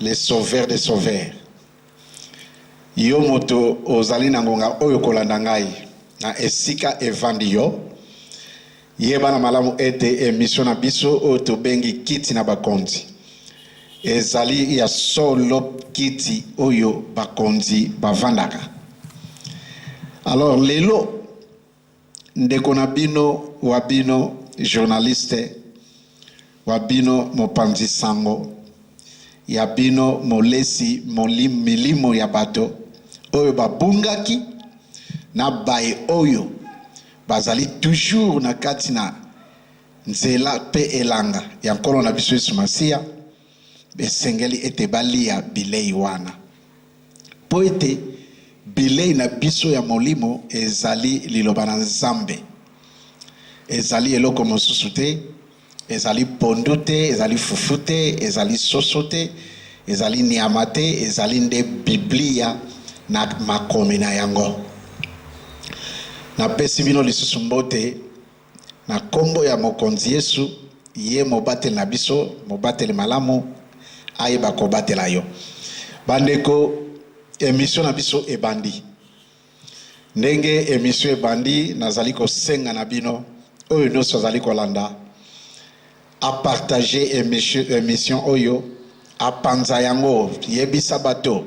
Le sauveur des sauveurs. Yo moto ozali na ngonga oyo kolanda ngai na esika evandi yo, yeba na malamu ete emission na biso oyo tobengi kiti na bakonzi ezali ya solo kiti oyo bakonzi bavandaka. Alors lelo Ndeko na bino wa bino journaliste wa bino mopanzi sango ya bino molesi molim milimo ya bato oyo babungaki na baye oyo bazali toujours na kati na nzela pe elanga ya Nkolo na biso Yesu Masiya esengeli ete balia bilei wana, mpo ete bilei na biso ya molimo ezali Liloba na Nzambe. Ezali eloko mosusu te, ezali pondu te, ezali fufu te, ezali soso te, ezali nyama te, ezali nde Biblia na makomi na yango. Napesi bino lisusu mbote. Na kombo ya Mokonzi Yesu, ye mobateli na biso, mobateli malamu, ayeba kobatela yo. Ba ndeko, emission na biso ebandi. Ndenge emission ebandi, nazali kosenga na bino oyo nionso azali kolanda, A partager emission emission oyo a panza yango yebisa bato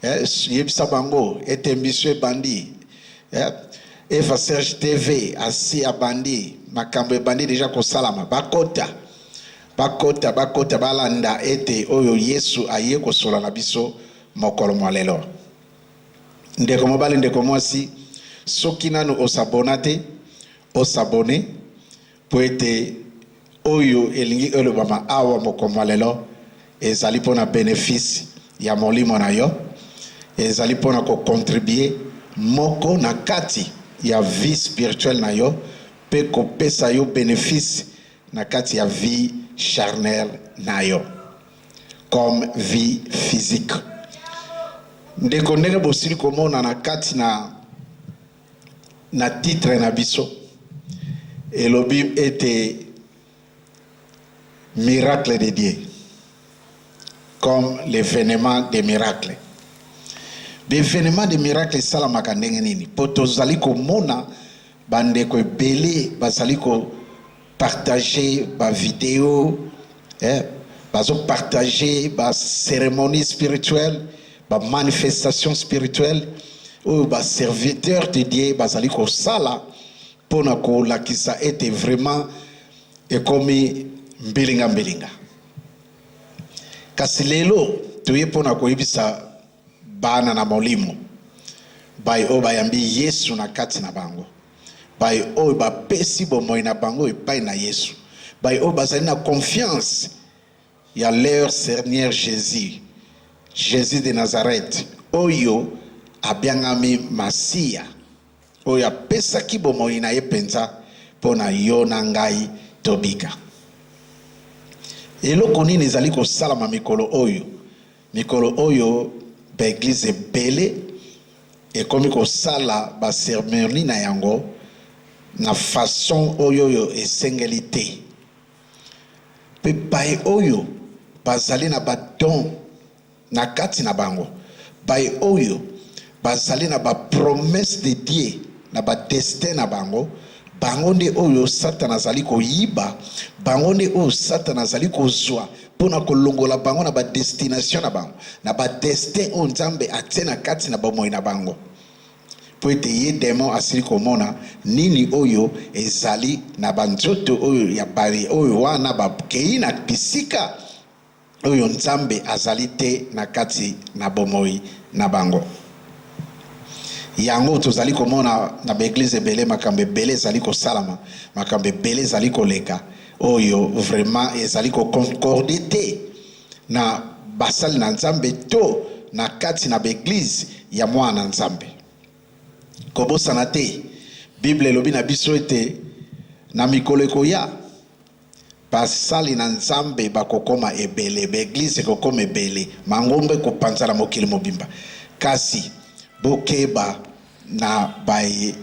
eh, yebisa bango ete emission ebandi eh, Eva Serge TV asi abandi makambo ebandi deja kosalama bakota bakota bakota balanda ete oyo Yesu aye kosola na biso mokolo mwa lelo. Ndeko mobali, ndeko mwasi, soki nanu osabona te, osabone Mpo ete oyo elingi elobama awa mokolo mwa lelo ezali mpo na benefice ya molimo na yo, ezali mpo na ko contribuer moko na kati ya vie spirituelle na yo mpe kopesa yo benefice na kati ya vie charnelle na yo comme vie physique. Ndeko, ndenge bosili komona na kati na. Na titre na biso elobi ete Miracles de Dieu comme l'evenement des miracles. B'evenement de miracle esalamaka ndenge nini? Po tozali komona ba ndeko ebele bazali ko partager ba video eh, bazo partager ba ceremonie spirituelle ba manifestation spirituelle oyo ba serviteur de Dieu bazali kosala mpo na kolakisa ete vraiment ekomi mbilinga mbilinga kasi lelo toye mpo na koyebisa Bana na molimo, baye oyo bayambi Yesu na kati na bango, baye oyo bapesi bomoi na bango epai na Yesu, baye oyo bazali na confiance ya leur Seigneur Jesus, Jesus de Nazareth, oyo abiangami Masiya, oyo apesaki bomoi na ye mpenza mpo na yo na ngai tobika. Eloko nini ezali kosalama mikolo oyo? Mikolo oyo ba eglises ebele ekomi kosala ba ceremonies na yango na façon oyo oyo esengeli te. Mpe baye oyo bazali na ba dons na kati na bango, baye oyo bazali na ba promesses de Dieu na ba destins na bango, bango nde oyo Satana azali koyiba, bango nde oyo Satana azali kozwa mpo na kolongola bango na badestination na bango na badestin oyo Nzambe atie na kati na bomoi na bango, mpo ete ye demon asili komona nini oyo ezali na banzoto oyo ya baye oyo wana bakei na bisika oyo Nzambe azali te na kati na bomoi na bango. Yango tozali komona na baeglize ebele, makambo ebele ezali kosalama, makambo ebele ezali koleka, Oyo vraiment ezali ko concorder te na basali na Nzambe to na kati na b'eglise ya mwana na Nzambe. Kobosana te Bible elobi na biso ete na mikolo ekoya basali na Nzambe bakokoma ebele, b'eglise ekokoma ebele, mangomba ekopanzana mokili mobimba. Kasi bokeba Na baye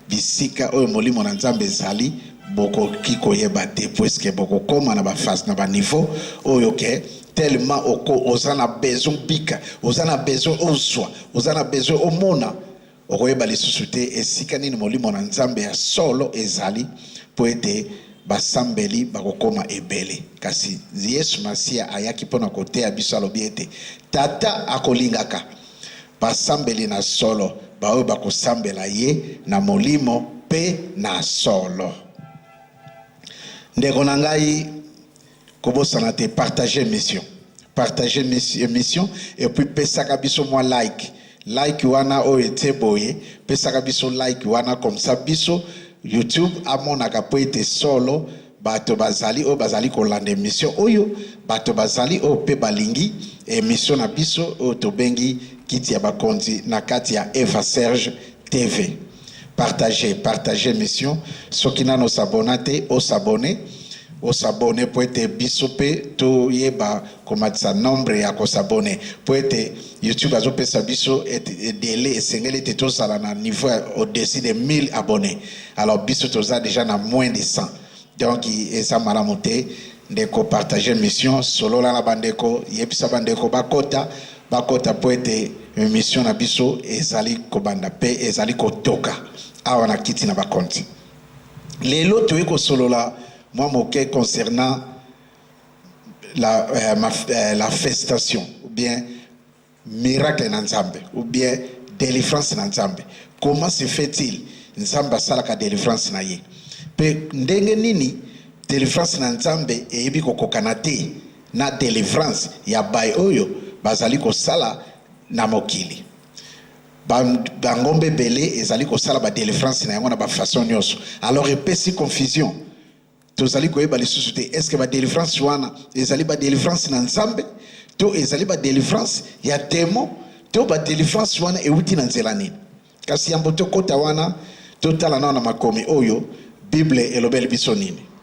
bisika oyo molimo na Nzambe ezali bokoki koyeba te puisque bokokoma na ba phase na ba niveau oyo que tellement oko oza na besoin obika oza na besoin ozua oza na besoin omona okoyeba lisusu te esika nini molimo na Nzambe ya solo ezali po ete basambeli bakokoma ebele kasi Yesu Masiya ayaki pona koteya biso alobi ete tata akolingaka basambeli na solo, baoyo bakosambela ye na molimo mpe na solo. Ndeko na ngai, kobosana te partage mission partage mission et puis pesaka biso mwa like like wana oyo etie boye pesaka biso like wana comme ça biso youtube amonaka mpo ete solo Bato bazali oyo bazali kolanda emission oyo, bato bazali oyo pe balingi emission na biso oyo tobengi kiti ya bakonzi na kati ya Eva Serge TV. Partager, partager emission. Soki nanu o s'abonna te, o s'abonner, o s'abonner po ete biso pe toyeba komatisa nombre ya ko s'abonner. Po ete YouTube azopesa biso delai esengeli ete tozala na niveau ya au-dessus de 1000 abonnes. alors biso toza deja na moins de 100 donc eza malamu te ndeko partage mission solola na bandeko yebisa bandeko bakota bakota mpo ete mission na biso ezali kobanda mpe ezali kotoka awa na kiti na bakonti lelo toyei kosolola mwa moke concernant la, euh, ma, euh, la festation ou bien Miracle na nzambe ou bien delivrance na nzambe comment se fait il nzambe asalaka delivrance na ye pe ndenge nini delivrance na nzambe eyebi kokokana te na delivrance ya bai oyo bazali kosala na mokili bangombe ebele ezali kosala ba delivrance na yango na ba façon nyonso alors epesi confusion Tozali koyeba lisusu te eske ba delivrance wana ezali ba delivrance na Nzambe to ezali ba delivrance ya demon to ba delivrance wana ewuti na nzela nini. Kasi yambo tokota wana, totala nao na makomi oyo Bible elobeli biso nini.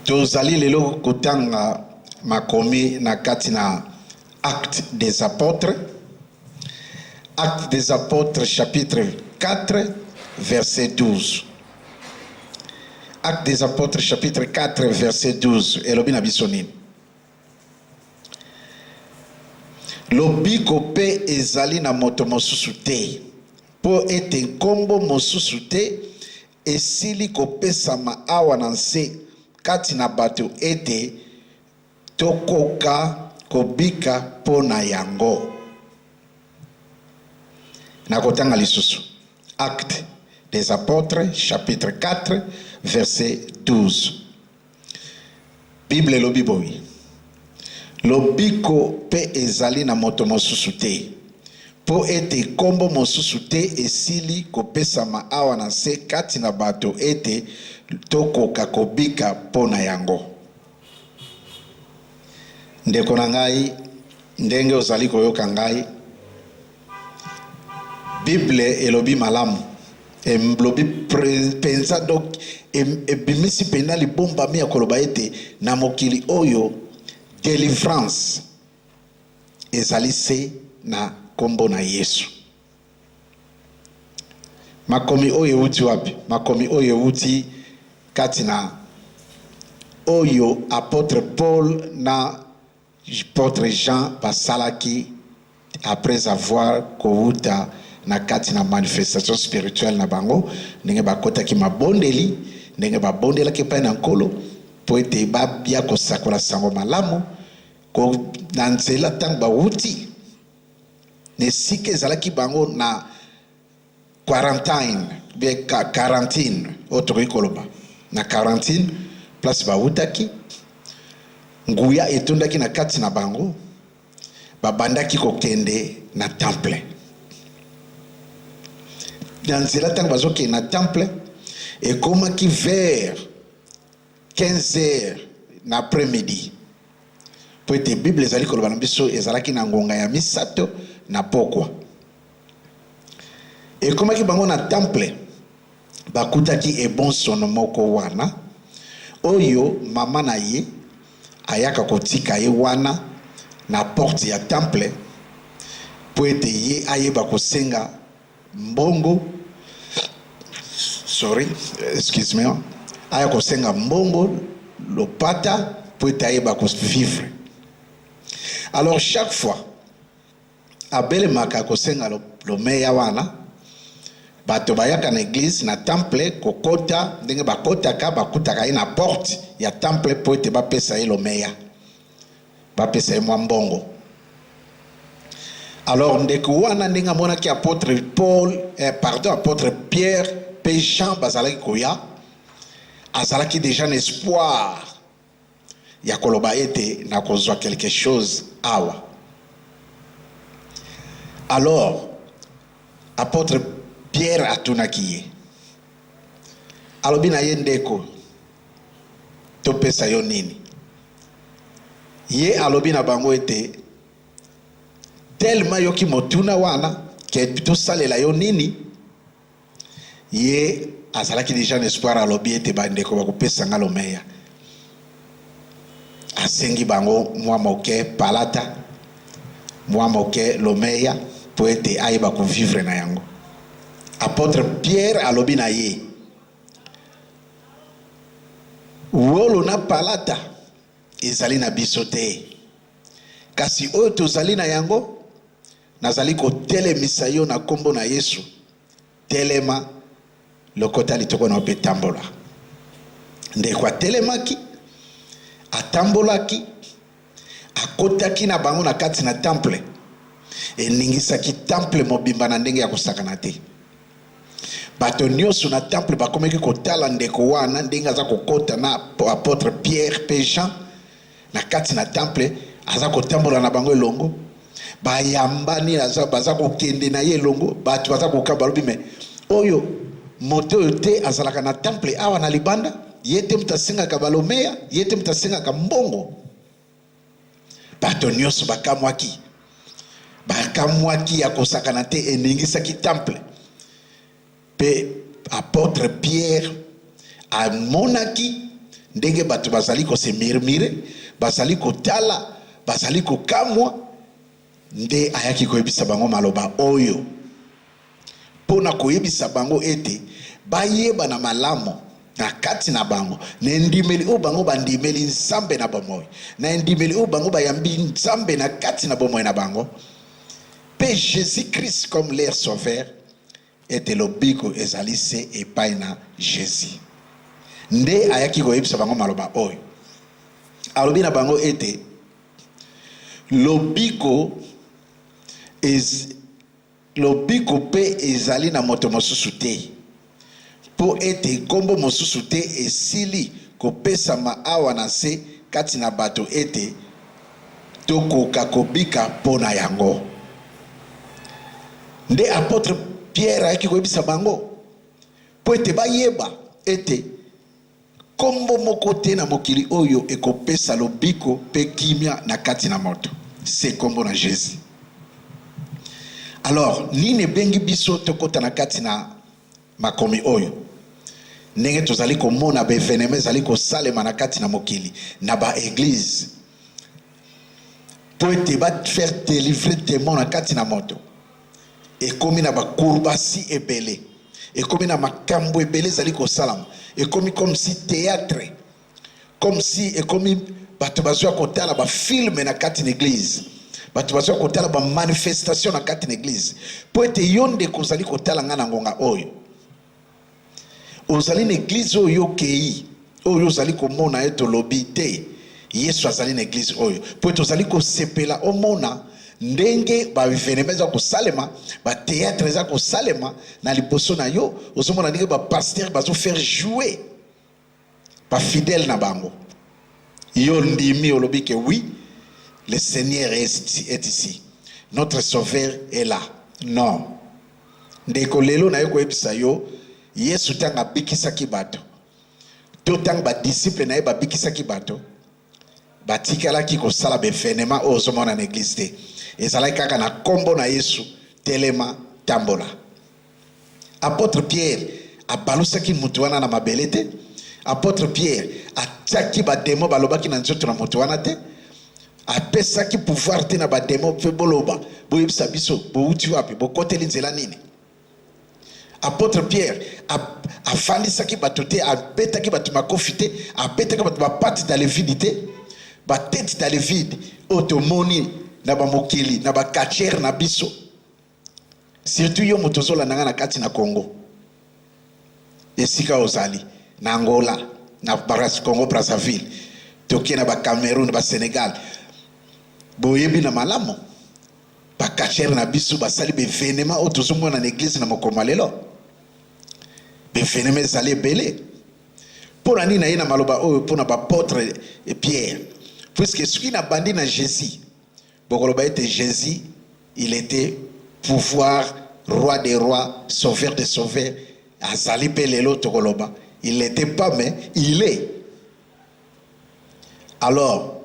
Tozali lelo kotanga makomi na kati na Actes des Apotres, Actes des Apotres chapitre 4 verset 12. Actes des Apotres chapitre 4 verset 12 elobi na biso nini? Lobiko mpe ezali na moto mosusu te, mpo ete nkombo mosusu te Esili kopesama awa na nse kati na bato ete tokoka kobika mpo na yango. Nakotanga lisusu Actes des apotres chapitre 4 verset 12. Biblia elobi boye, Lobiko mpe ezali na moto mosusu te, mpo ete nkombo mosusu te esili kopesama awa na nse kati na bato ete tokoka kobika mpo na yango. Ndeko na ngai, ndenge ozali koyoka ngai, Bible elobi malamu, elobi mpenza, donc ebimisi mpenza libombami ya koloba ete na mokili oyo delivrance ezali se na nkombo na Yesu. Makomi oyo euti wapi? Makomi oyo euti kati na oyo apotre Paul na Apotre Jean basalaki après avoir kowuta na kati na manifestation spirituelle na bango, ndenge bakotaki mabondeli, ndenge babondelaki epai na Nkolo mpo ete babia kosakola sango malamu ko, na nzela ntango bawuti na esika ezalaki bango na quarantine be quarantine oyo tokoki koloba na quarantine place bawutaki nguya etondaki na kati na bango babandaki kokende na temple na nzela ntango bazokende na temple ekomaki vers 15 heures na après midi mpo ete bible ezali koloba na biso ezalaki na ngonga ya misato na pokwa Ekomaki bango na temple, bakutaki ebonsono moko wana, oyo mama na ye ayaka kotika ye wana na porte ya temple mpo ete ye ayeba kosenga mbongo, sorry, excuse me, aya kosenga mbongo, lopata, mpo ete ayeba ko vivre. Alors chaque fois, Abelemaka kosenga lomeya wana bato bayaka na eglise na temple kokota ndenge bakotaka bakutaka ye na porte ya temple mpo ete bapesa ye lomeya bapesa ye mwa mbongo alors ndeko wana ndenge amonaki apotre paul eh, pardon apotre pierre mpe jean bazalaki koya azalaki déjà na espoir ya koloba ete nakozwa quelque chose awa. Alors, Apotre Pierre atunaki ye, alobi na ye, Ndeko, topesa yo nini? Ye alobi na bango ete tellement yoki motuna wana ke tosalela yo nini? Ye azalaki dejà na espoir, alobi ete ba ndeko bakopesa nga lomeya. Asengi bango mua moke palata, mua moke lomeya po ete ayeba ko vivre na yango. Apotre Pierre alobi na ye, Wolo na palata ezali na biso te, kasi oyo tozali na yango, Nazali kotelemisa yo na kombo na Yesu, telema, lokota litoko na yo pe tambola. Ndeko atelemaki, atambolaki, akotaki na bango na kati na temple, eningisaki temple mobimba na ndenge ya kosakana te. Bato nyonso na temple bakomaki kotala ndeko wana ndenge aza kokota na apotre Pierre pe Jean na kati na temple aza kotambola na bango elongo bayambani baza kokende na ye elongo bato baza kokaba balobi me oyo moto oyo te azalaka na temple awa na libanda ye te moto asengaka balomeya ye te moto asengaka mbongo bato nyonso bakamwaki bakamwaki ya kosakana te eningisaki temple Mpe apotre Piere amonaki ndenge bato bazali ko se murmurer, bazali kotala, bazali kokamwa, nde ayaki koyebisa bango maloba oyo, mpo na koyebisa bango ete bayeba na malamu na kati na bango, na endimeli oyo bango bandimeli Nzambe na bomoi, na endimeli oyo bango bayambi Nzambe na kati na bomoi na bango, mpe Jesus-Christ comme leur Sauveur, Ete lobiko ezali se epai na Jesus. Nde ayaki koyebisa bango maloba oyo. Alobi na bango ete lobiko ez, lobiko mpe ezali na moto mosusu te, mpo ete nkombo mosusu te esili kopesama awa na nse kati na bato ete tokoka kobika mpo na yango. Nde apotre Pierre ayaki koyebisa bango mpo ete bayeba ete nkombo moko te na mokili oyo ekopesa lobiko mpe kimia na kati na moto se nkombo na Jesus. Alors nini ebengi biso tokota na kati na Makomi oyo, ndenge tozali komona ba evenements ezali kosalema na kati na mokili na ba eglises mpo ete ba faire delivrer demon na kati na moto, ekomi na ba kurbasi ebele, ekomi na makambo ebele ezali kosalama, ekomi comme si theatre. comme si ekomi bato bazwa kotala bafilme na kati na eglize bato bazwa kotala bamanifestation na kati na eglize mpo ete yo ndeko ozali kotala ngai na ngonga oyo ozali na eglize oyo okei oyo ozali komona ete olobi te yesu azali na eglize oyo mpo ete ozali kosepela omona ndenge baevenema eza kosalema bateatre eza kosalema na liboso na yo ozomona ndenge bapaster bazofaire joue ba fidèle na bango yo ondimi olobi que oui le seigneur est ici notre sauveur est là non ndeko lelo naye koyebisa yo yesu tango abikisaki bato to tango ba disciples naye babikisaki bato Batikalaki kosala ba evenements oyo ozomona na eglise te. Ezalaki kaka na kombo na Yesu, telema, tambola. Apotre Pierre abalusaki mutu wana na mabele te. Apotre Pierre atiaki ba demons balobaki na nzoto na mutu wana te. Apesaki pouvoir te na ba demons mpe boloba, boyebisa biso bowuti wapi, bokoteli nzela nini? Apotre Pierre afandisaki bato te, abetaki bato makofi te, abetaki bato bapati dans le vide te, batete dans le vide oyo tomoni na bamokili na bacatchere na biso, surtout yo moto ozolanda ngai na kati na Congo, esika ozali na Angola, na Congo Brazzaville, toke na ba Cameroun, ba Senegal, boyebi na malamu Ba cacheurs na biso basali ba evenements oyo tozomona na eglise na mokolo mwa lelo. Ba evenements ezali ebele. Mpo na nini naye na maloba oyo mpo na baapotre Pierre? Puisque soki nabandi na Jesus, bokoloba ete Jesus il était pouvoir roi des rois, sauveur des sauveurs, azali mpe lelo tokoloba il n'était pas mais il est alors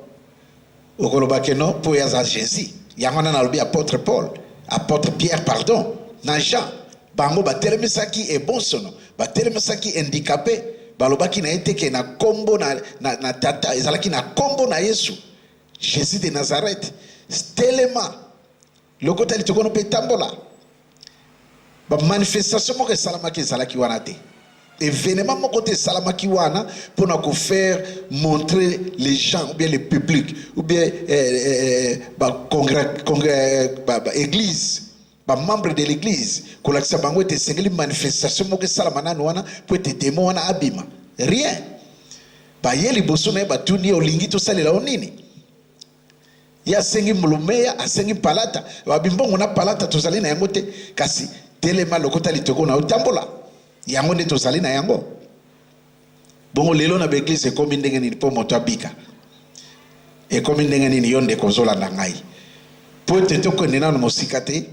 okoloba que non po ye aza Jesus yango wana nalobi apotre Paul apotre Pierre pardon na Jean bango batelemisaki ebosono batelemisaki indicape balobaki na ye te que na kombo na, na, na tata ezalaki na kombo na Yesu Jesus de Nazareth telema Lokota litokono mpe tambola. Ba manifestation moko esalamaki ezalaki wana te. Evenement moko te esalamaki wana mpo na ko faire montrer les gens ou bien le public ou bien eh, eh, eh, eh ba congrès, congrès, eh, ba, ba église bamembre de l'église kolakisa bango ete esengeli manifestation moko esalama nanu wana mpo ete demo wana abima rien baye liboso na ye batuni ye olingi tosalela yo nini Ye asengi mbulumeya, asengi mpalata. Babi, Mbongo na palata tozali na yango te, kasi telema, lokota litogo na yo, tambola. Yango nde tozali na yango. Bongo lelo na baeglize ekomi ndenge nini mpo moto abika? Ekomi ndenge nini yo ndeko ozolanda ngai? Mpo ete tokende nano mosika te,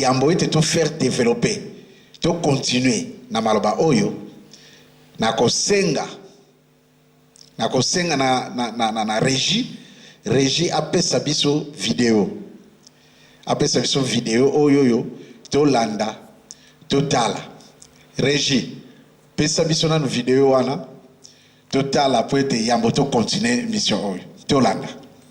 yambo ete to faire developper, to continuer na maloba oyo, nakosenga Nakosenga na, na, na, na, na regie regie apesa biso video, apesa biso video oyo oyo tolanda totala. Regie pesa biso nanu video wana totala, po ete yambo to continuer mission oyo tolanda.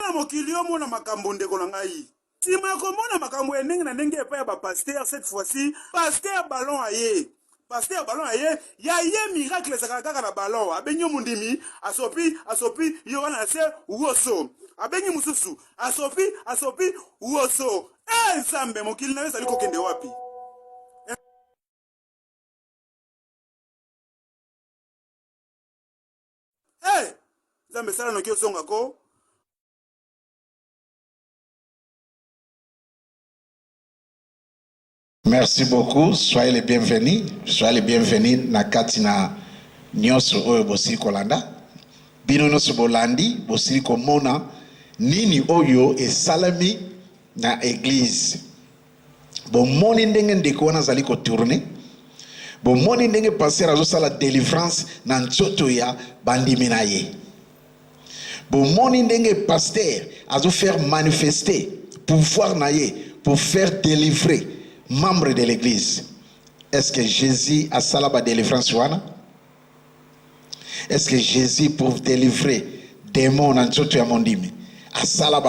Na mokili omona makambo ndeko na ngai. Sima ya komona makambo ya ndenge na ndenge epai ya ba pasteur cette fois-ci pasteur ballon aye pasteur ballon aye ya ye miracle ezakala kaka na ballon abengi yo mondimi asopi asopi yo wana na se woso abengi mosusu asopi asopi woso e eh, nzambe mokili na yo ezali kokende wapi hey! nzambe sala noki ozonga ko Merci beaucoup. Soyez les bienvenus. Soyez les bienvenus na kati na nyonso oyo bosili kolanda. Bino nyonso bolandi, bosili komona nini oyo esalami na eglise Bomoni ndenge ndeko wana azali ko tourner? Bomoni ndenge pasteur azosala delivrance na nzoto ya bandimi na ye? Bomoni ndenge pasteur azo faire manifester pouvoir na ye pour faire délivrer membre de l'église? Est-ce que Jésus asala ba delivrance wana? est ce que jesus pour delivrer demon na nzoto ya mondimi asala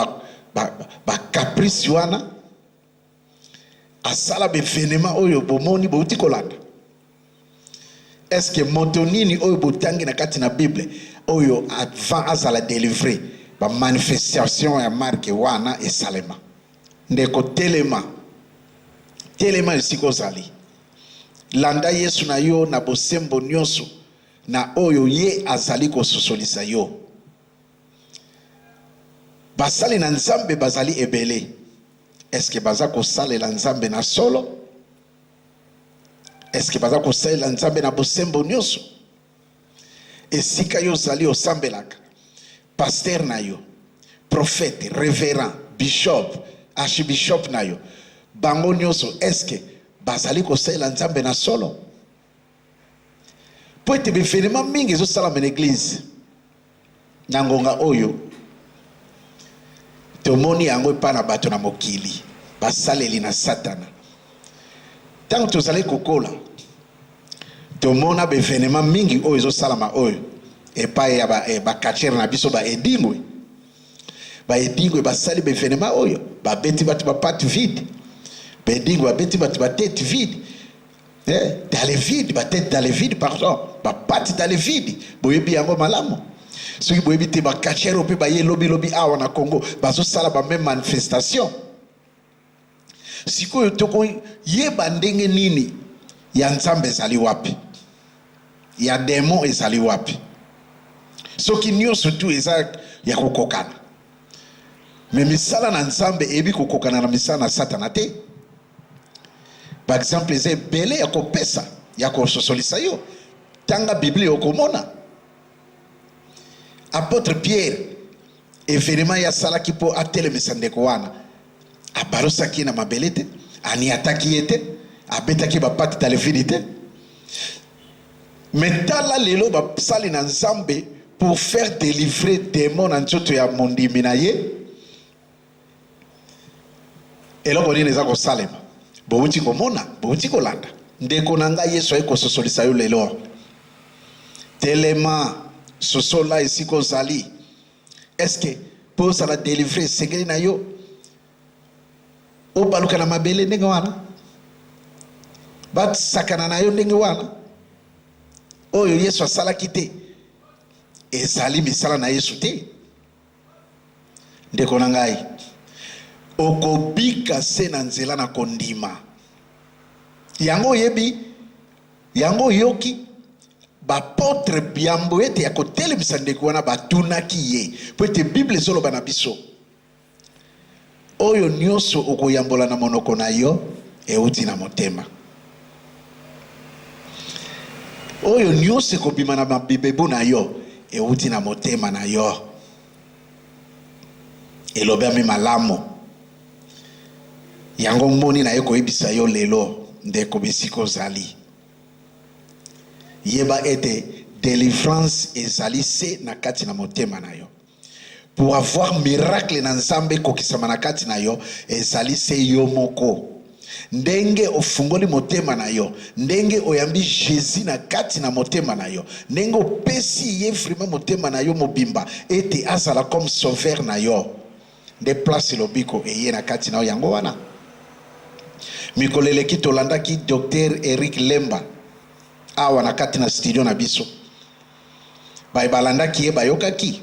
bacaprice ba, ba wana asala baevenema oyo bomoni bouti kolanda est ce que moto nini oyo botangi na kati na bible oyo avant azala delivre bamanifestation ya marke wana esalema ndeko telema telema esika ozali Landa Yesu na yo na bosembo nyonso na oyo Ye azali kososolisa yo. Basali na Nzambe bazali ebele. Eske baza kosalela Nzambe na solo? Eske baza kosalela Nzambe na bosembo nyonso? Esika yo ozali osambelaka, pasteur na yo, prophète, reverend, bishop, archibishop na yo, bango nyoso eske bazali kosalela Nzambe na solo? Mpo ete ba evenement mingi ezosalama na eglise Na ngonga oyo, tomoni yango epai na bato na mokili, basaleli na Satana. Ntango tozali kokola, tomona baevenema mingi oyo ezosalama oyo epai ya bakatiere eh, na biso baedingwe baedingwe basali baevenema oyo babeti bato bapate vide baedingwe babeti bato batete vide eh, dans le vide ba tête dans le vide pardon ba patte dans le vide boyebi yango malamu soki boyebi te bakachero mpe baye lobilobi awa na congo bazosala bameme manifestation sikoyo tokoyeba ndenge nini ya nzambe ezali wapi ya demon ezali wapi soki nyonso tu eza ya kokokana me misala na nzambe eyebi kokokana na misala na satana te Baexemple eza ebele ya kopesa ya kososolisa yo. Tanga Biblia okomona. Apotre Pierre, evenema ye asalaki mpo atelemisa ndeko wana, abalosaki ye na mabele te, aniataki ye te, abetaki bapate talefini te. Me tala lelo basali na Nzambe pour faire delivrer demon na nzoto ya mondimi na ye Eloko nini eza kosalema? Bowuti komona, bowuti kolanda. Ndeko na ngai, Yesu aye kososolisa yo lelo. Telema, sosola esika ozali. Eske mpo ozala delivre esengeli na yo obaluka na mabele ndenge wana, basakana na yo ndenge wana? Oyo Yesu asalaki te, ezali misala na Yesu te. Ndeko na ngai, okobika se na nzela na kondima yango. Oyebi yango, oyoki baapotre biambo ete ya kotelemisa ndeko wana batunaki ye, po ete Bible ezoloba na biso Oyo nyonso okoyambola na monoko na yo euti na motema. Oyo nyonso ekobima na mabibebu na yo euti na motema na yo. Elobami malamu. Yango moni na ye koyebisa yo lelo, ndeko, bisika ozali. Yeba ete delivrance ezali se na kati na motema na yo. Pour avoir miracle na Nzambe ekokisama na kati na yo, ezali se yo moko. Ndenge ofungoli motema na yo, ndenge oyambi Jesus na kati na motema na yo, ndenge opesi ye vraiment motema na yo mobimba ete azala comme sauveur na yo, nde place lobiko eye na kati na yo. Yango wana mikolo eleki tolandaki Docteur Eric Lemba awa na kati na studio na biso. Baye balandaki ye bayokaki?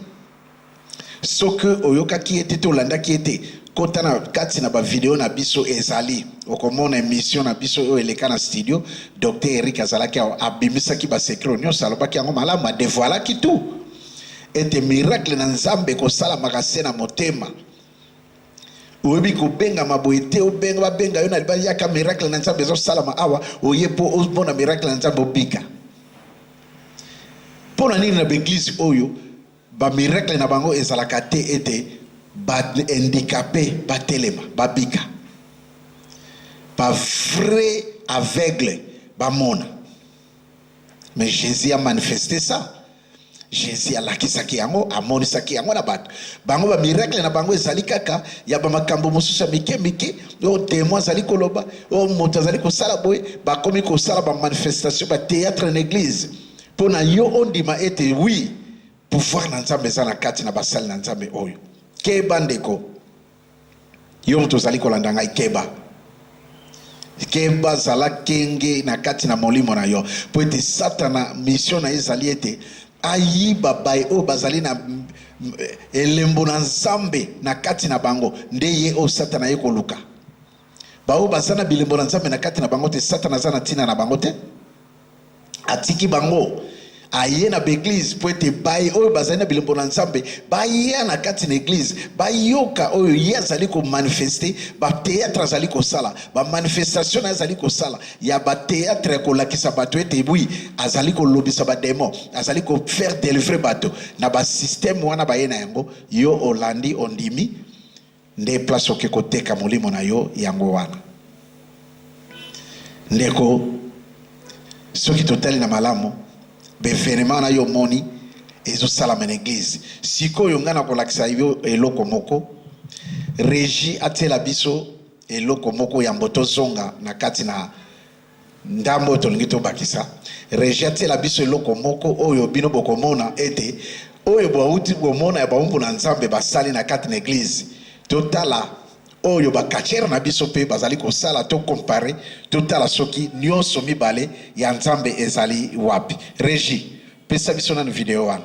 Soki oyokaki ye te to olandaki ye te, kota na kati na ba video na biso ezali okomona emission na biso oyo eleka na studio. Docteur Eric azalaki awa, abimisaki ba secret nyonso, alobaki yango malamu, a devoilaki tout ete miracle na Nzambe ekosalamaka se na motema oyebi kobengama boye te obenga babenga yo na libala yaka miracle na nzambe ezosalama awa oye mpo omona miracle na nzambe obika Pona nini na ba eglise oyo ba miracle na bango ezalaka te ete ba indicape ba telema ba bika? Ba vrai aveugle ba mona. Mais Jesus a manifeste ça. Jesus alakisaki yango, amonisaki yango na bato. Bango ba miracle na bango ezali kaka ya ba makambo mosusu ya mike mike. oyo témoin azali koloba oyo moto azali kosala boye bakomi kosala bamanifestation batheatre na église mpo na yo ondima ete wi pouvoir na nzambe eza na kati na basali na nzambe oyo keba ndeko yo moto ozali kolanda ngai keba keba zala kenge na kati na molimo na yo mpo ete satana misio na ye ezali ete Ayiba baye oyo bazali na elembo na Nzambe na kati na bango, nde ye oyo Satana aye koluka. Baoyo baza na bilembo na Nzambe na kati na bango te, Satana aza na ntina na bango te, atiki bango aye na baeglize mpo ete baye oyo bazali na bilembo na nzambe baya na kati na eglize bayoka oyo ye azali komanifeste bateatre azali kosala bamanifestation na ye azali kosala ya ba theatre kolakisa bato ete bui azali kolobisa bademo azali kofaire delivre bato na basysteme wana baye na yango yo olandi ondimi nde place oke koteka molimo na yo yango wana ndeko soki totali na malamu bevenema na yo omoni ezosalama na eglize sikoyo ngai nakolakisa yo eloko moko regi atiela biso eloko moko yambo tozonga na kati na ndambo oyo tolingi tobakisa regi atiela biso eloko moko oyo bino bokomona ete oyo bauti komona ya baumbu na nzambe basali na kati na eglize totala oyo bakachere na biso mpe bazali kosala to kompare totala soki nyonso mibale ya nzambe ezali wapi regi pesa biso nanu video wana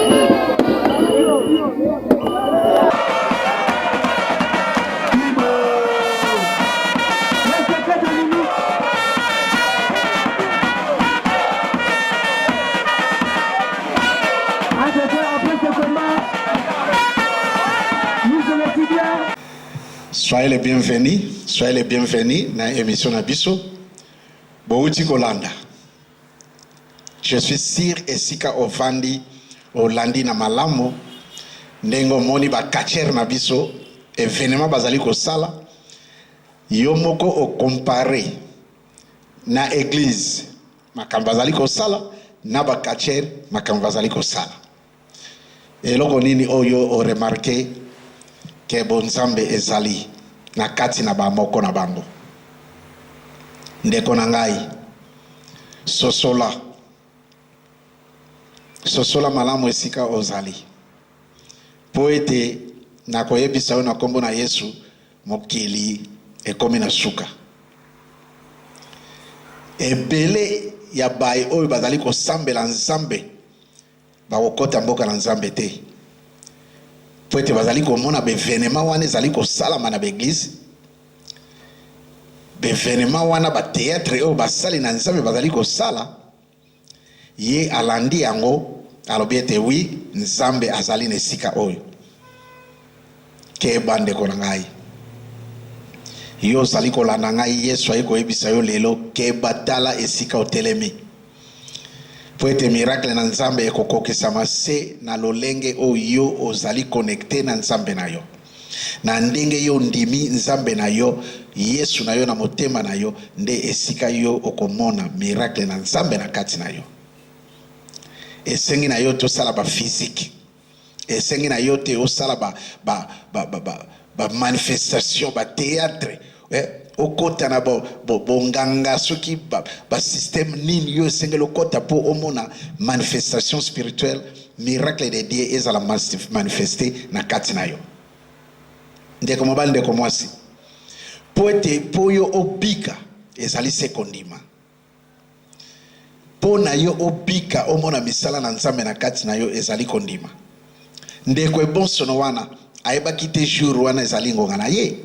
soyez les bienvenus soyez les bienvenus na émission na biso bowuti kolanda Je suis sur esika ovandi olandi na malamu ndenge omoni ba catcheurs na biso evenement bazali kosala yo moko o comparer na eglise makambo bazali kosala na ba catcheurs makambo bazali kosala. Eloko nini oyo yo o remarquer que bonzambe ezali na kati na ba moko na bango? Ndeko na ngai, sosola, sosola malamu esika ozali, mpo ete nakoyebisa yo na nkombo na Yesu, mokili ekomi na suka. Ebele ya baye oyo bazali kosambela Nzambe Bakokota mboka na Nzambe te, mpo ete bazali komona bevenema wana ezali kosalama na baeglize, bevenema wana bateatre oyo basali na Nzambe bazali kosala. Ye alandi yango, alobi ete wi, Nzambe azali na esika oyo. Keba, ndeko na ngai. Yo ozali kolanda ngai, Yesu ayei koyebisa yo lelo, keba, tala esika otelemi. Mpo ete miracle na Nzambe ekokokisama se na lolenge oyo yo ozali connecte na Nzambe na yo. Na ndenge yo ondimi Nzambe na yo, Yesu na yo na motema na yo, nde esika yo okomona miracle na Nzambe na kati na yo. Esengi na yo tosala ba physique. esengi na yo te osala ba, ba, ba, ba, ba, ba manifestation ba theatre eh? okota na bonganga bo, bo soki basystème ba nini yo esengeli okota mpo omona manifestation spirituelle miracle de dieu ezala manifeste na kati na yo ndeko mobali ndeko mwasi mpo ete mpo yo obika ezali se kondima Mpo na yo obika, omona misala na Nzambe na kati na yo, ezali kondima. Ndeko ebonsono wana ayebaki te jour wana ezali ngonga na ye.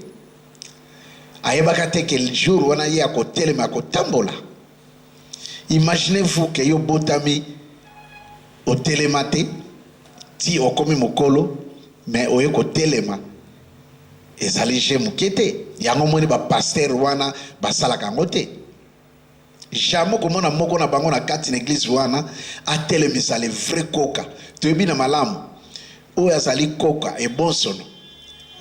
Ayebaka te ke jour wana ye akotelema, akotambola. Imaginez-vous ke yo botami otelema te ti okomi mokolo me oye kotelema ezali je moke te yango omoni ba pasteur wana basalaka yango te Jamais okomona moko na bango na kati na eglise wana atelemisa le vrai koka. Toyebi na malamu oyo azali koka ebonsono.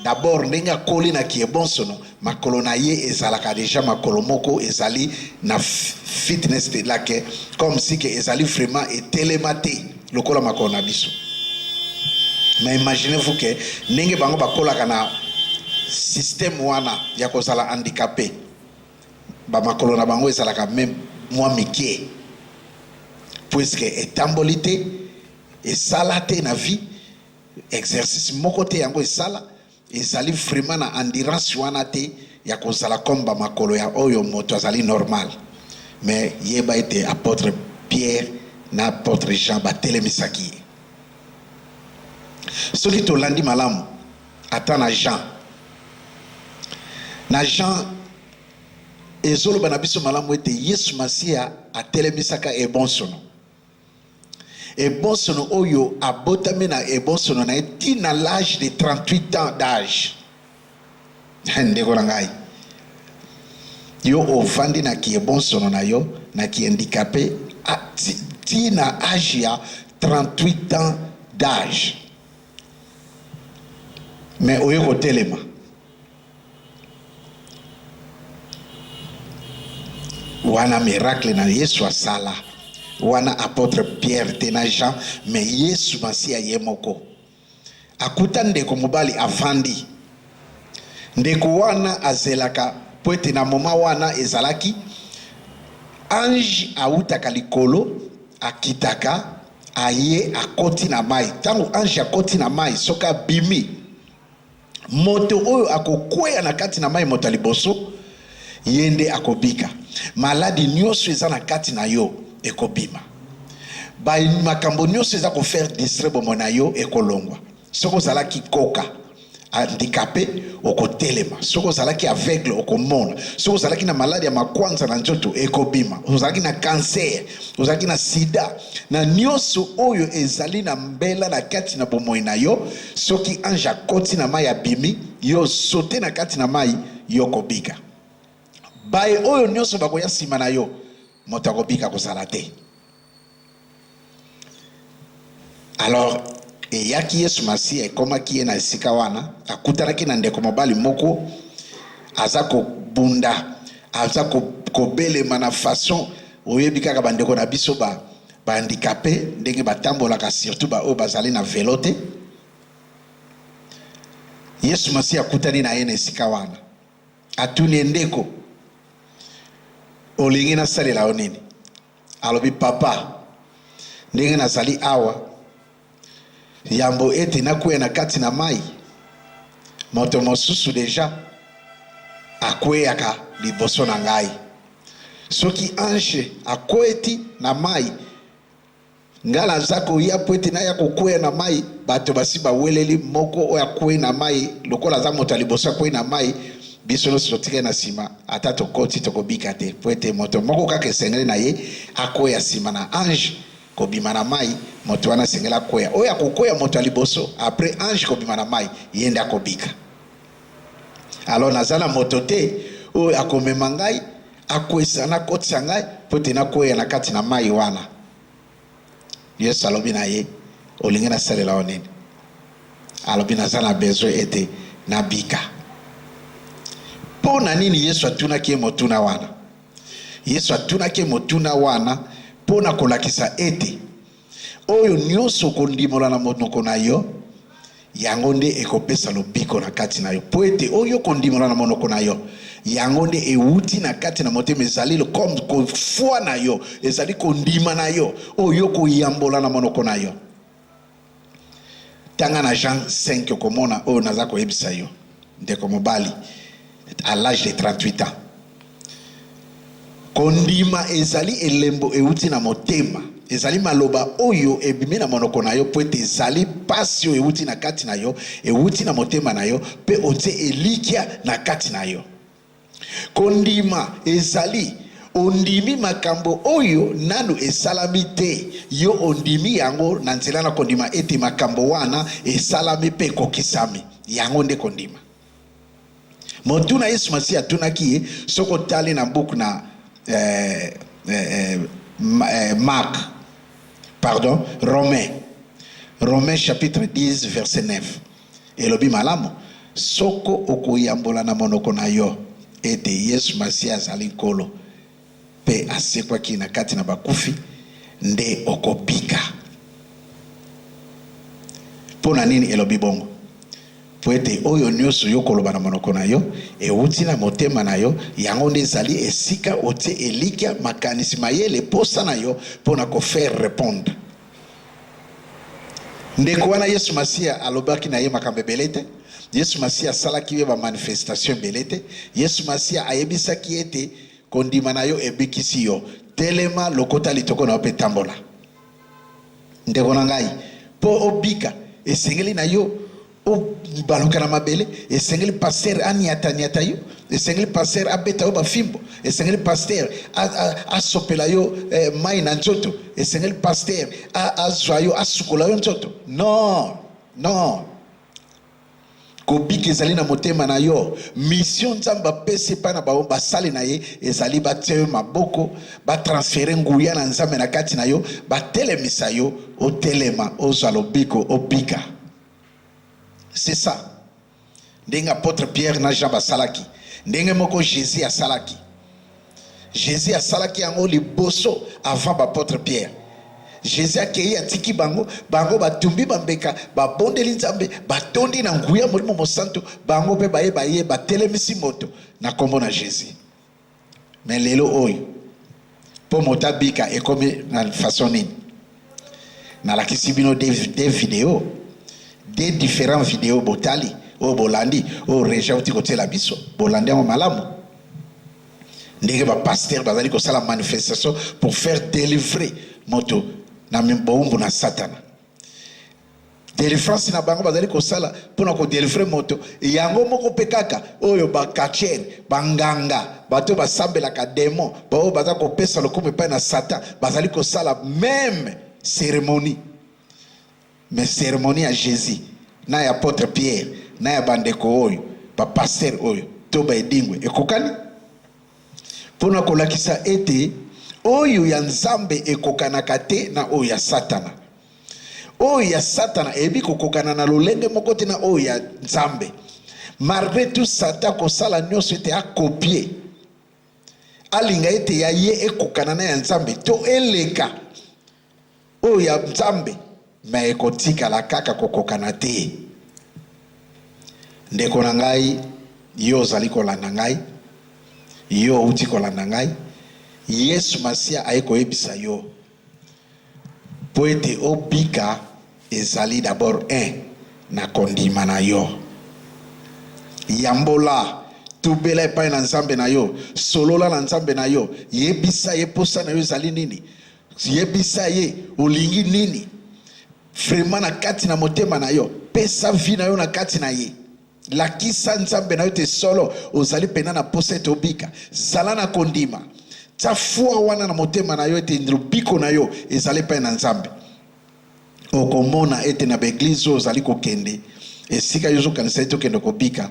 D'abord ndenge akoli na kiebonsono, makolo na ye ezalaka deja makolo moko ezali na fitness te lake comme si ke ezali vraiment etelema te lokola makolo na biso. Mais imaginez-vous ke ndenge bango bakolaka na système wana ya kozala handicapé ba makolo na bango ezalaka meme mwa mikie puisque etamboli te esala te na vie exercice moko te yango esala ezali vraiment na endurance wana te ya kozala comme ba makolo ya oyo moto azali normal mais yeba ete apôtre Pierre na apôtre Jean batelemisaki ye soki tolandi malamu Ata na Jean na Jean ezoloba na biso malamu ete Yesu Masiya atelemisaka ebonsono ebonsono oyo abotami na ebonsono na ye ti na l'age de 38 ans d'age ndeko na ngai yo ovandi na kiebonsono na yo na kiendikape ti na age ya 38 ans d'age mais oye kotelema wana miracle na Yesu asala wana apotre Pierre te na Jean mais Yesu Masiya ye moko akuta ndeko mobali afandi ndeko wana azelaka po ete na moma wana ezalaki ange awutaka likolo akitaka aye akoti na mai ntango ange akoti na mai soki abimi moto oyo akokweya na kati na mai moto ya liboso ye nde akobika maladi nyonso eza na kati na yo ekobima makambo nyonso eza kofaire distre bomo na yo ekolongwa soki ozalaki koka handikape okotelema soki ozalaki aveugle okomona soki ozalaki na maladi ya makwanza na nzoto ekobima ozalaki na kanser ozalaki na sida na nyonso oyo ezali na mbela na kati na bomoi na yo soki ange akoti na mai abimi yo sote na kati na mai yo kobika baye oyo nyonso bakoya nsima na yo moto akobika kozala te Alors eyaki Yesu Masiya, ekomaki ye na esika wana, akutanaki na ndeko mobali moko aza kobunda, aza kobelema na façon oyebi kaka bandeko na biso ba ba handicapé ndenge batambolaka, surtout ba oyo bazali na velo te. Yesu Masiya akutani na ye na esika wana, atuni ye, ndeko, olingi nasalela yo nini? Alobi, Papa, ndenge nazali awa, yambo ete nakweya na kati na mai, moto mosusu deja akweyaka liboso na ngai. Soki ange akweti na mai, Nga naza koya mpo ete naya kokweya na mai, bato basi baweleli moko oyo akwei na mai, lokola aza moto ya liboso akwei na mai, biso nyonso totikali na nsima, ata tokoti, tokobika te, mpo ete moto moko kaka esengeli na ye akweya nsima na ange kobima na mai, moto wana asengeli akweya, oyo akokweya moto ya liboso apres ange kobima na mai, ye nde akobika. Alors naza na moto te oyo akomema ngai. Akweisa na kotisa ngai mpo ete nakweya na kati na mai wana. Yesu alobi na ye, olingi nasalela yo nini? Alobi, naza na besoin ete nabika. Mpo na nini Yesu atunaki ye motuna wana? Yesu atunaki ye motuna wana mpo na kolakisa ete Oyo nyonso okondimola na monoko na yo, yango nde ekopesa lobiko na kati na yo. Mpo ete oyo okondimola na monoko na yo, yango nde ewuti na kati na motema, ezali lokola kofwa na yo, ezali kondima na yo, oyo okoyambola na monoko na yo. Tanga na Jean 5, okomona oyo naza koyebisa yo. Ndeko mobali à l'age de 38 ans. Kondima ezali elembo euti na motema. Ezali maloba oyo ebimi na monoko na yo mpo ete ezali mpasi oyo euti na kati na yo, euti na motema na yo, mpe otie elikya na kati na yo. Kondima ezali ondimi makambo oyo nanu esalami te, yo ondimi yango na nzela na kondima ete makambo wana esalami mpe ekokisami. Yango nde kondima. Motuna Yesu Masiya atunaki ye, soki otali na buku na eh, eh, eh, eh Mark, pardon, Romain, Romain chapitre 10 verset 9 elobi malamu, Soko okoyambola na monoko na yo ete Yesu Masiya azali Nkolo mpe asekwaki na kati na bakufi, nde okobika. Mpo na nini elobi bongo? Mpo ete oyo nyonso yo okoloba na monoko na yo euti na motema na yo, yango nde ezali esika otie elikya, makanisi, mayele, mposa na yo mpo na ko faire repondre. Ndeko wana Yesu Masiya alobaki na ye makambo ebele te. Yesu Masiya asalaki ye bamanifestation ebele te. Yesu Masiya ayebisaki ye ete kondima na yo ebikisi yo, telema, lokota litoko na yo mpe tambola. Ndeko na ngai, mpo obika, esengeli na yo O baluka na mabele, esengeli pasteur aniata niata yo, esengeli pasteur abeta yo ba fimbo, esengeli pasteur asopela yo eh, mai na nzoto, esengeli pasteur azwa yo asukola yo nzoto. Non, non. kobika ezali na motema na yo misio nzambe apesi epai na bango basali na ye ezali batia yo maboko batransfere nguya na nzambe na kati na yo batelemisa yo otelema ozwa lobiko obika C'est ça. Ndenge apôtre Pierre na Jean basalaki, ndenge moko Jésus asalaki. Jésus asalaki yango liboso avant bapôtre Pierre. Jésus akei atiki bango, bango batumbi bambeka, babondeli Nzambe, batondi na nguya Molimo Mosantu, bango mpe baye baye batelemisi moto na kombo na Jésus. Mais lelo oyo po moto abika ekomi na façon nini? Nalakisi bino deux videos, deux differents videos botali oyo bolandi oyo Regi awuti kotiela biso bolandi yango malamu? Ndenge ba pasteurs bazali kosala manifestation pour faire delivrer moto na bowumbu na satana. Delivrance na bango bazali kosala mpo na kodelivre moto yango moko mpe kaka oyo bakachere, banganga, bato basambelaka demon, baoyo baza kopesa lokumu epai na Satan bazali kosala meme ceremonie. Me ceremonie ya Jesus na ya apotre Pierre na ya bandeko oyo bapastere oyo to baedingwe ekokani mpo na kolakisa ete oyo ya Nzambe ekokanaka te na oyo ya Satana. Oyo ya Satana eyebi kokokana na lolenge moko te na oyo ya Nzambe. Malgre tout, Satan akosala nyonso ete akopie, alinga ete ya ye ekokana na ya Nzambe to eleka oyo ya Nzambe, me ekotikala kaka kokokana te. Ndeko na ngai, yo ozali kolanda ngai, yo outi kolanda ngai, Yesu Masiya aye koyebisa yo Mpo ete obika, ezali d'abord un na kondima na yo. Yambola, tubela epai na Nzambe na yo, solola na Nzambe na yo, yebisa Ye mposa na yo ezali nini, yebisa Ye olingi nini vraiment na kati na motema na yo, pesa vie na yo na kati na Ye. Lakisa Nzambe na yo te solo ozali mpenza na mposa ete obika. Zala na kondima, tya fua wana na motema na yo ete lobiko na yo ezali epai na Nzambe. Okomona ete na baeglize oyo ozali kokende, esika yo ozokanisa ete okende kobika,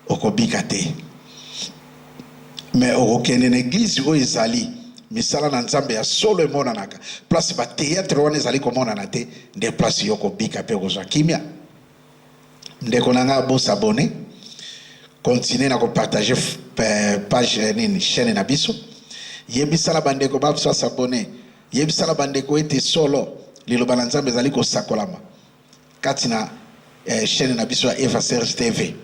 okobika te. Me okokende na eglize oyo ezali misala na Nzambe ya solo emonanaka, place bateatre wana ezali komonana te, nde place yo okobika mpe okozwa kimia. Ndeko na nga bo s'abonner, continuer na ko partager page nini chaine na biso. Yebisa na bandeko ba biso ba s'abonner. Yebisa na bandeko ete solo liloba na Nzambe ezali kosakolama kati na eh, chaine na biso ya Eva Serge TV.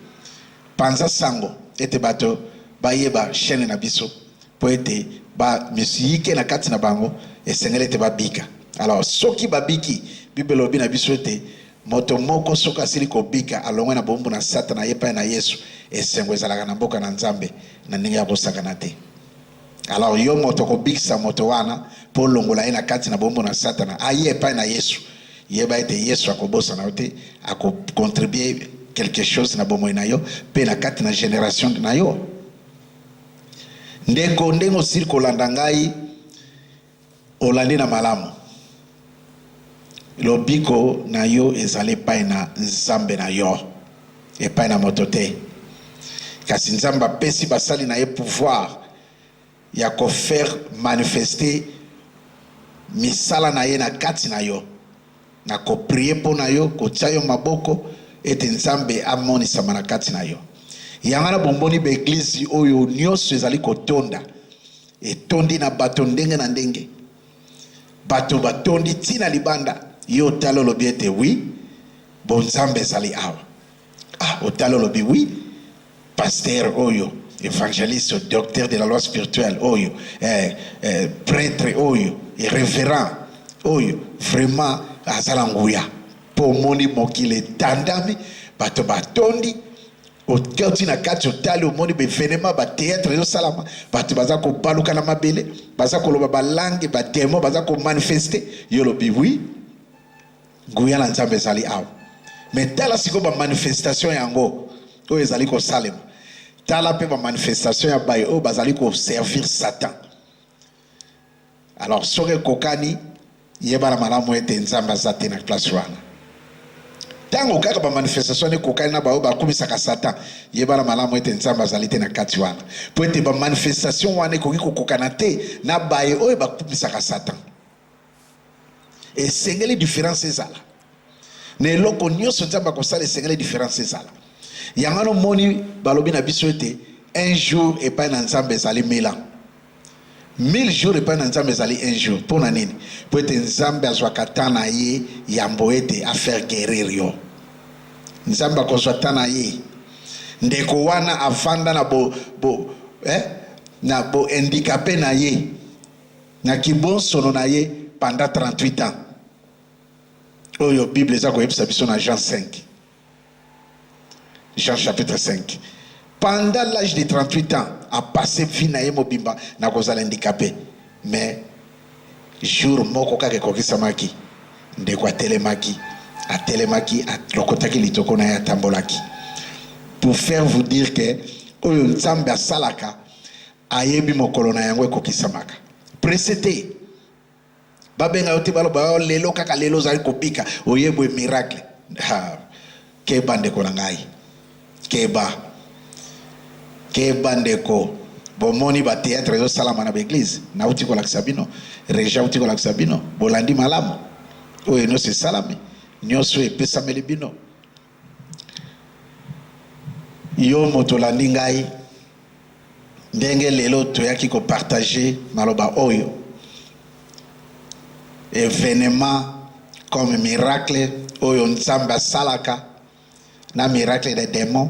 Panza sango ete bato bayeba chaine na biso mpo ete ba misiyike na kati na bango esengeli ete babika. Alors soki babiki, Biblia elobi na biso ete Moto moko soki asili kobika, alongwe na bowumbu na Satana aye epai na Yesu, esengo ezalaka na mboka na Nzambe na ndenge ya kosakana te. Alors yo moto okobikisa moto wana mpo olongola ye na kati na bowumbu na Satana aye epai na Yesu, yeba ete Yesu akobosana yo te, akocontribue quelque chose na bomoi na yo mpe na kati na generation na yo. Ndeko, ndenge osili kolanda ngai, Olandi na malamu? Lobiko na yo ezali epai na Nzambe na yo, epai na moto te. Kasi Nzambe apesi basali na ye pouvoir ya ko faire manifester misala na ye na kati na yo, na ko prier mpo na yo, kotia yo maboko ete Nzambe amonisama na kati na yo. Yango wana bomoni ba eglises oyo nionso ezali kotonda, Etondi na bato ndenge na ndenge. Bato batondi ti na libanda. Yo otali olobi ete oui, bo Nzambe ezali awa. Ah, otali olobi oui, pasteur oyo, evangeliste, docteur de la loi spirituelle oyo, eh, eh, pretre oyo, reverend oyo, vraiment azala nguya. Po omoni mokili etandami, bato batondi, Oke oti na kati otali omoni bevenema bateatre ezosalama bato baza kobaluka na mabele baza koloba balange bademo baza komanifeste yo lobi wi nguya na nzambe ezali awa me tala sikoyo bamanifestation yango oyo ezali kosalema tala mpe bamanifestation ya baye oyo bazali koservir satan Alors soki ekokani, yebana malamu ete Nzambe aza te na place wana. Tango kaka ba manifestation wana ekokani na baoyo bakumisaka Satan, yebana malamu ete Nzambe azali te na kati wana, mpo ete ba manifestation wana ekoki kokokana te na baye oyo bakumisaka Satan. esengeli difference ezala na eloko nyonso nzambe akosala esengeli difference ezala yango wana omoni balobi na biso ete un jour epai na nzambe ezali mila mille jours epai na nzambe ezali un jour mpo na nini mpo ete nzambe azwaka temps na ye yambo ete afaire guerir yo nzambe akozwa temps na ye ndeko wana afanda na bo, bo, eh, na bohandikape na ye na kibonsono na ye pendant 38 ans oyo bible eza koyebisa biso na jean 5 jean chapitre 5 pendant l'âge de 38 ans apasse vie na ye mobimba na kozala handicapé mais jour moko kaka ekokisamaki ndeko atelemaki atelemaki alokotaki litoko na ye atambolaki pour faire vous dire que oyo nzambe asalaka Ayebi mokolo na yango ekokisamaka. Presse te. Babenga yo te baloba yo oh, lelo kaka lelo ozali kobika oyebwe miracle. Ha. Keba ndeko na ngai. Keba. Keba ndeko. Bomoni ba théâtre ezosalama na baeglise nauti kolakisa bino reja auti kolakisa bino bolandi malamu oyo nyonso esalami nyonso epesameli bino Yo moto olandi ngai ndenge lelo toyaki ko partager maloba oyo, evenement comme miracle oyo Nzambe asalaka na miracle des demons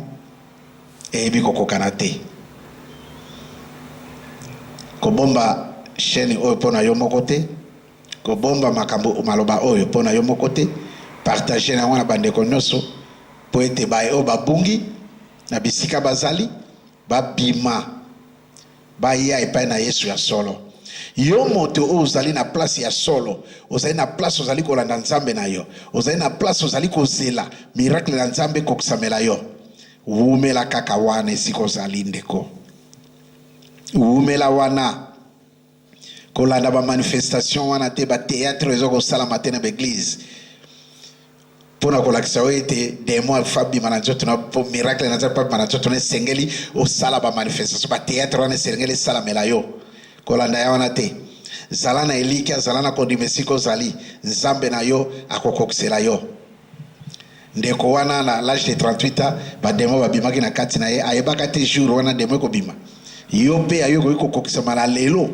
eyebi kokokana te. Kobomba chaine oyo mpo na yo moko te. Kobomba makambo, maloba oyo mpo na yo moko te, partager na yango na bandeko nyoso mpo ete baye oyo babungi na bisika bazali babima baya epai na Yesu ya solo. Yo moto oyo ozali na place ya solo, ozali na place ozali kolanda Nzambe na yo, ozali na place ozali kozela miracle na Nzambe ekokisamela yo, wumela kaka wana esika ozali ndeko, wumela wana. kolanda ba manifestation wana te ba theatre eza kosalama te na ba eglise mpo na kolakisa yo ete demon afa abima na nzoto na mpo miracle na nzambe mpo abima na nzoto na esengeli osala ba manifestation ba theatre wana esengeli esalamela yo kolanda ya wana te zala na elikya zala na kondima esika ozali nzambe na yo akokokisela yo Ndeko wana na l'age de 38 ans ba demon babimaki na kati na ye ayebaka te jour wana demon ekobima. Yo mpe ayo ekoki kokokisama na lelo,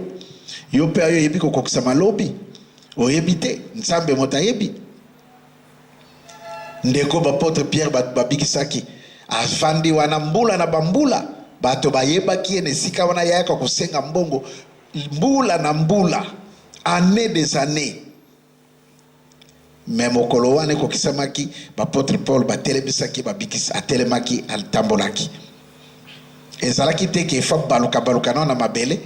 yo mpe ayo eyebi kokokisama lobi, oyebi te, Nzambe moto ayebi. Ndeko bapotre Pierre bato babikisaki afandi wana mbula na bambula, bato bayebaki ye na esika wana, yayaka kosenga mbongo mbula na mbula, annee des annees Mais mokolo wana ekokisamaki, b'apotres Paul batelemisaki babikisi, atelemaki, atambolaki. Ezalaki te qu'il faut abaluka baluka nao na mabele,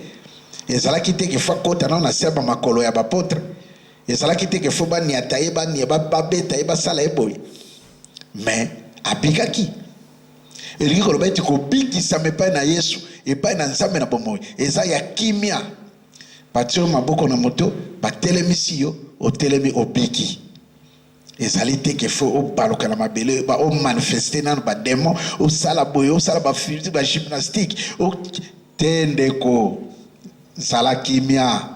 ezalaki te qu'il faut akota nao na se ya ba makolo ya b'apotres, ezalaki te qu'il faut baniata ye, bani, ba, babeta ye, basala ye boye. Mais abikaki. Elingi koloba ete kobikisama epai na Yesu, epai na Nzambe na bomoi, eza ya kimia, Batie yo maboko na moto, batelemisi yo, otelemi, obiki. Ezali te ke faut obaluka na mabele, ba o manifester nanu ba demon, osala boye, osala ba fusils, ba gymnastique, o te ndeko, zala kimia,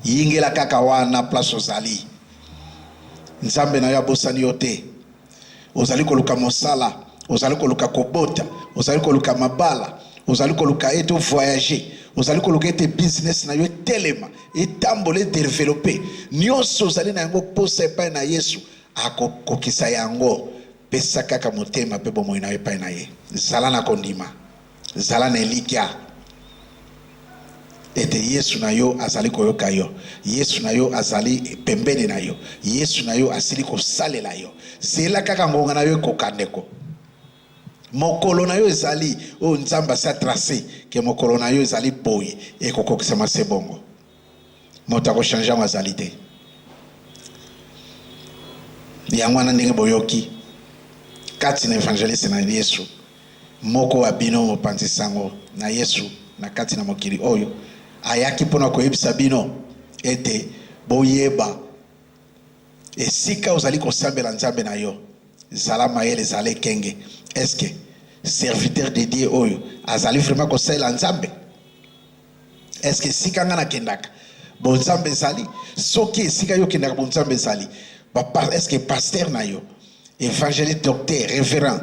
yingela kaka wana place ozali. Nzambe na yo abosani yo te. ozali koluka mosala, ozali koluka kobota, ozali koluka mabala, ozali koluka ete ovoyager, ozali koluka ete business na yo etelema, etambola, edevelope, nyonso ozali na yango posa epai na Yesu, akokokisa yango. Pesa kaka motema mpe bomoi na yo epai na Ye. Zala na kondima. Zala na elikya ete Yesu na yo azali koyoka yo, Yesu na yo azali pembeni na yo, Yesu na yo asili kosalela yo. Zela kaka ngonga na yo ekoka, ndeko. Mokolo na yo ezali oyo Nzambe asi atrace ke mokolo na yo ezali boye, ekokokisama se bongo. moto akochange yango azali te. Yango wana ndenge boyoki kati na evangeliste na Yesu, moko wa bino mopanzi sango na Yesu na kati na mokili oyo ayaki mpo na koyebisa bino ete boyeba esika ozali kosambela Nzambe na yo, zala mayele, zala ekenge. Eske serviteur de Dieu oyo azali vraiment kosalela Nzambe? Est-ce que esika nga nakendaka bonzambe ezali? Soki esika yo okendaka bonzambe ezali, est-ce que pasteur na yo, évangéliste, docteur, révérend,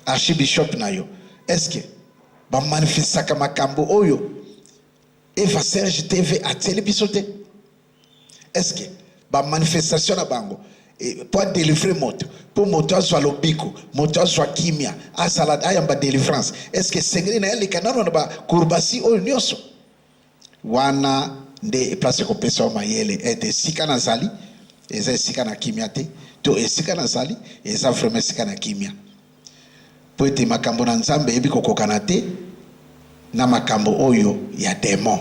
archibishop na yo, est-ce que bamanifestaka makambo oyo Eva Serge TV atieli biso te? Est-ce que ba manifestation na bango eh, po adelivre moto po moto azwa lobiko moto azwa kimia asala ayamba delivrance est-ce que esengeli na aleka nano na bakurbasi oyo nyonso wana nde place ekopesa yo mayele ete eh, esika nazali eza esika na kimia te to esika nazali eza vraiment esika na kimia Mpo ete makambo na Nzambe eyebi kokokana te na makambo oyo ya demon.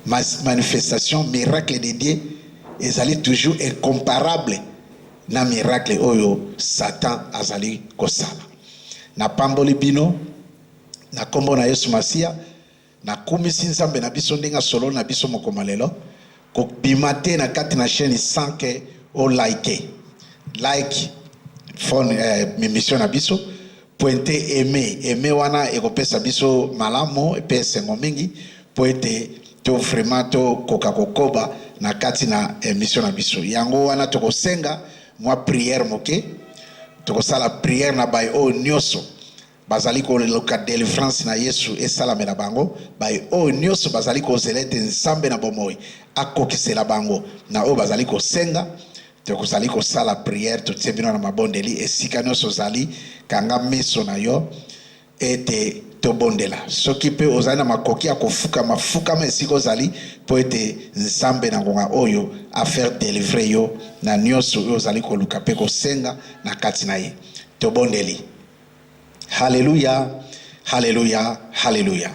Mas manifestation miracle de Dieu ezali toujours incomparable na miracle oyo Satan azali kosala. Napamboli bino na kombo na Yesu Masiya. Nakumisi Nzambe na biso ndenge asololi na biso mokoma lelo. Kobima te na kati na chaîne sans que o like. Like phone eh, emission na biso pointe aime aime wana ekopesa biso malamu mpe esengo mingi mpo ete to vraiment tokoka kokoba na kati na emission na biso yango wana tokosenga mwa prière moke tokosala prière na baye oyo nyonso Bazali koluka delivrance na Yesu esalamela bango, baye oyo nioso bazali kozela ete Nzambe na bomoi akokisela bango na oyo bazali kosenga. Tokozali kosala prière, totie bino na mabondeli esika nioso ozali, kanga miso na yo ete tobondela. Soki mpe ozali na makoki ya kofukama, fukama esika ozali mpo ete Nzambe na ngonga oyo a faire delivrer yo na nioso oyo ozali koluka mpe kosenga na kati na ye. Tobondeli. Haleluya, haleluya, haleluya.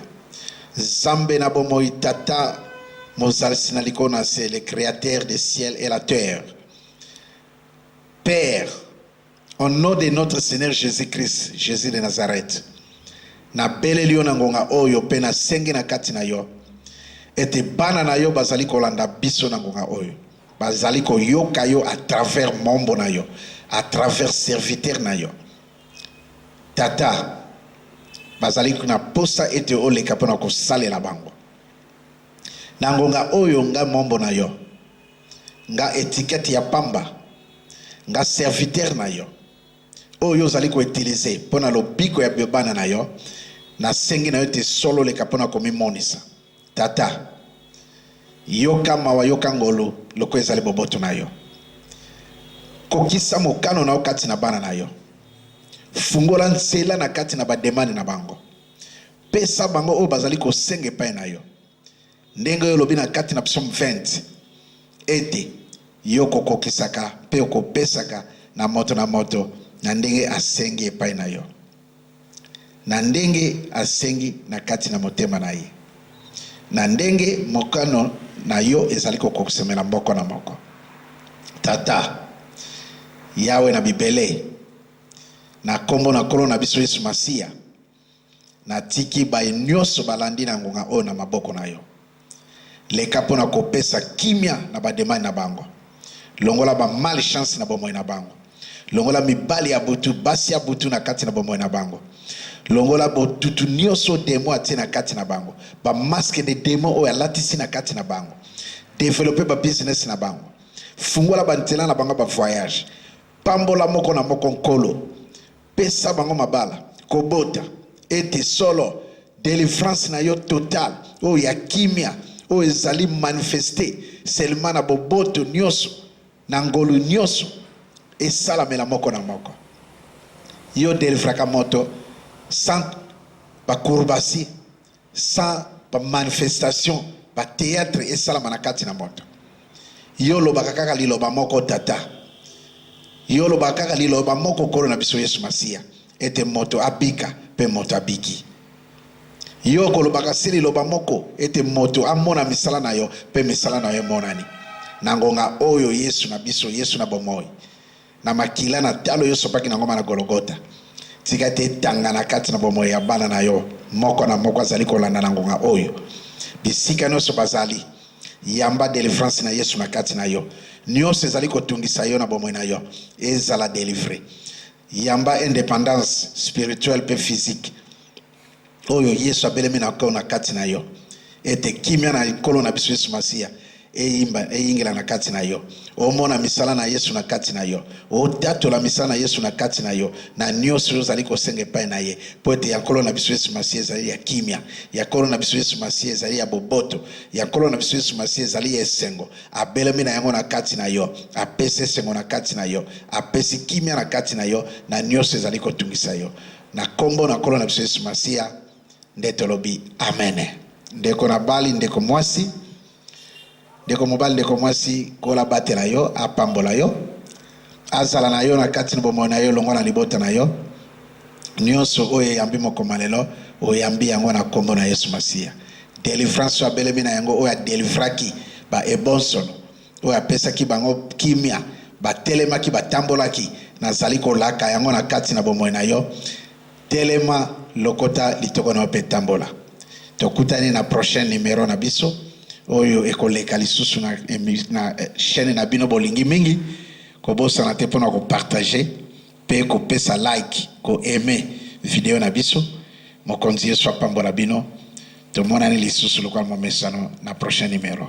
Nzambe na bomoi, Tata mozalisi na likolo na se, le createur de ciel et la terre. Père, au nom de notre Seigneur Jésus-Christ, Jésus de Nazareth, na beleli yo na ngonga oyo mpe nasengi na kati na yo ete bana na yo bazali kolanda biso na ngonga oyo Bazali koyoka yo à travers mombo na yo, à travers serviteur na yo. Tata, bazali na posa ete oleka mpo na kosalela bango. Na ngonga oyo nga mombo na yo, nga etikete ya pamba, nga serviteur na yo, oyo ozali koutilize mpo na lobiko ya bana na yo, nasengi na yo ete solo oleka mpo na komimonisa. Tata, yoka mawa, yoka ngolu, lokola ezali boboto na yo. Kokisa mokano na yo kati na bana na yo. Fungola nzela na kati na bademande na bango. Pesa bango oyo bazali kosenga epai na yo, ndenge oyo olobi na kati na psaume 20 ete yo kokokisaka mpe okopesaka na moto na moto na ndenge asengi epai na yo. na ndenge asengi na kati na motema na ye, na ndenge mokano na yo ezali kokokisamela moko na moko. Tata, Yawe na Bibele, na kombo na Nkolo na biso Yesu Masiya, natiki baye nyoso balandi na ngonga oyo na maboko na yo. Leka mpo na kopesa kimia na bademande na bango. Longola ba malchances na bomoi na bango. Longola mibali ya butu, basi ya butu na kati na bomoi na bango. Longola botutu nioso oyo demon atie na kati na bango, ba masques de demons oyo alatisi na kati na bango. Developper ba business na bango. Fungola ba nzela na bango ya ba voyages. Pambola moko na moko, Nkolo. Pesa bango mabala, kobota, ete solo delivrance na yo total oyo ya kimia oyo ezali manifeste selema na boboto nyonso na ngolu nyonso esalamela moko na moko. Yo delivraka moto sans bakurbasi sans ba manifestation ba theatre esalama na kati na moto yo olobaka kaka liloba moko tata yo olobaka kaka liloba moko nkolo na biso yesu masiya ete moto abika mpe moto abiki yo okolobaka se liloba moko ete moto amona misala na yo mpe misala na yo emonani na ngonga oyo yesu na biso yesu na bomoi na makila na talo yo sopaki na ngomba na Gologota. Tika te etanga na kati na bomoi ya bana na yo moko na moko azali kolanda na ngonga oyo. Bisika nyonso bazali, yamba delivrance na Yesu na kati na yo. Nyonso ezali kotungisa yo na bomoi na yo, ezala delivre. Yamba independance spirituelle pe physique. oyo Yesu abelemi na ko na kati na yo, ete kimia na Nkolo na biso Yesu Masiya eyimba eyingela na kati na yo, omona misala na Yesu na kati na yo, otatola misala na Yesu na kati na yo, na nyonso oyo ozali kosenga epai na ye, mpo ete ya Nkolo na biso Yesu Masiya ezali ya kimia, ya Nkolo na biso Yesu Masiya ezali ya boboto, ya Nkolo na biso Yesu Masiya ezali ya esengo. Abelemi na yango na kati na yo, apesi esengo na kati na yo, apesi kimia na kati na yo, na nyonso ezali kotungisa yo. Na nkombo na Nkolo na biso Yesu Masiya nde tolobi amene. Ndeko na bali, ndeko mwasi, ndeko mobali, ndeko mwasi, kola batela yo, apambola yo, azala na yo na kati na bomoi na yo, longwa na libota na yo. Nyonso oyo eyambi mokoma lelo, oyambi yango na nkombo na Yesu Masiya. Delivrance oyo abelemi na yango, oyo adelifraki ba ebonsono oyo apesaki bango kimia, batelemaki, batambolaki, Nazali kolaka yango na kati na bomoi na yo, telema, lokota litoko na yo mpe tambola. Tokutani na prochain numero na biso oyo ekoleka lisusu na, na eh, chaîne na bino bolingi mingi. Kobosana te mpo na kopartage mpe kopesa like, koaime video na biso. Mokonzi Yesu apambola bino. Tomonani lisusu lokola momesano na prochain numero.